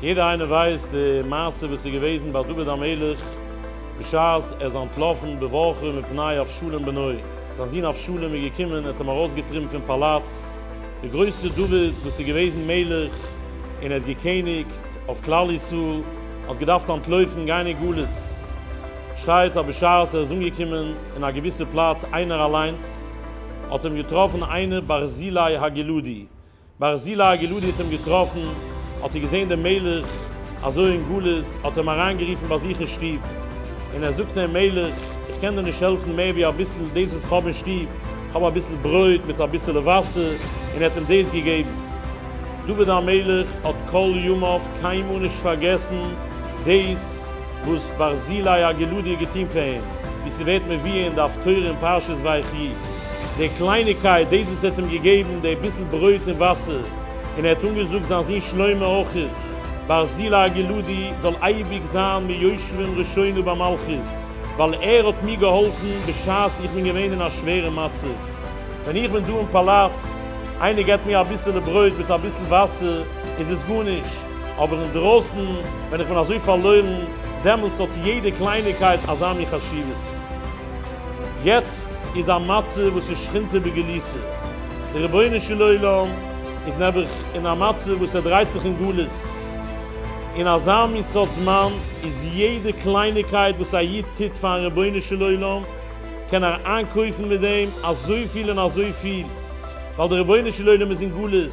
יעדער איינער ווייסט די מעשה וואס איז געוועזן ביי דוד המלך בשעת ער איז אנטלאפן בבואכו מפני אבשלום בנו, זיין זון אבשלום איז געקומען ער האט אים ארויסגעטריבן פון פאלאץ, די גרויסע דוד וואס איז געוועזן מלך און ער האט געקעניגט אויף כלל ישראל האט געדארפט אנטלויפן גיין אין גלות, שטייט אז בשעת ער איז אנגעקומען אין א געוויסע פלאץ איינער אליינס, האט אים געטראפן איינער ברזילי הגלעדי, ברזילי הגלעדי האט אים געטראפן, האט ער געזען דעם מלך אזוי אין גלות, האט ער אים אריינגערופן ביי זיך אין שטוב, און ער זאגט אים, מלך, איך קען דיר נישט העלפן מער ווי אביסל דאס וואס איך האב אין שטוב, איך האב אביסל ברויט מיט אביסעלע וואסער, און ער האט אים דאס געגעבן. דוד המלך האט כל ימיו קיינמאל נישט פארגעסן דאס. וואס ברזילי הגלודי האט געטון פאר אים, ווי ס'ווערט מבואר אין דף תורה אין פרשת ויחי, די קלייניגקייט, דאס וואס ער האט אים געגעבן די ביסל ברויט און וואסער, און ער האט אנגעזאגט זיין זון שלמה אויכעט, ברזילי הגלודי זאל אייביג זיין מיושבים ראשינו במלכות, ווייל ער האט מיר געהאלפן בשעת איך בין געווען אין א שווערע מצב, ווען איך בין דא אין פאלאץ, איינער געבט מיר אביסעלע ברויט מיט אביסל וואסער, איז עס גארנישט. אבער אינדרויסן ווען איך בין אזוי פארלוירן, דעמאלטס האט יעדע קלייניקייט אזא מין חשיבות. יעצט איז א מצב וואס איז שכינתא בגליסא, דער רבונו של עולם איז נעבעך אין א מצב וואס ער דרייט זיך אין גלות, אין אזא מין סארט זמן איז יעדע קלייניקייט וואס א איד טוט פארן רבונו של עולם, קען ער איינקויפן מיט דעם אזויפיל און אזויפיל, ווייל דער רבונו של עולם איז אין גלות,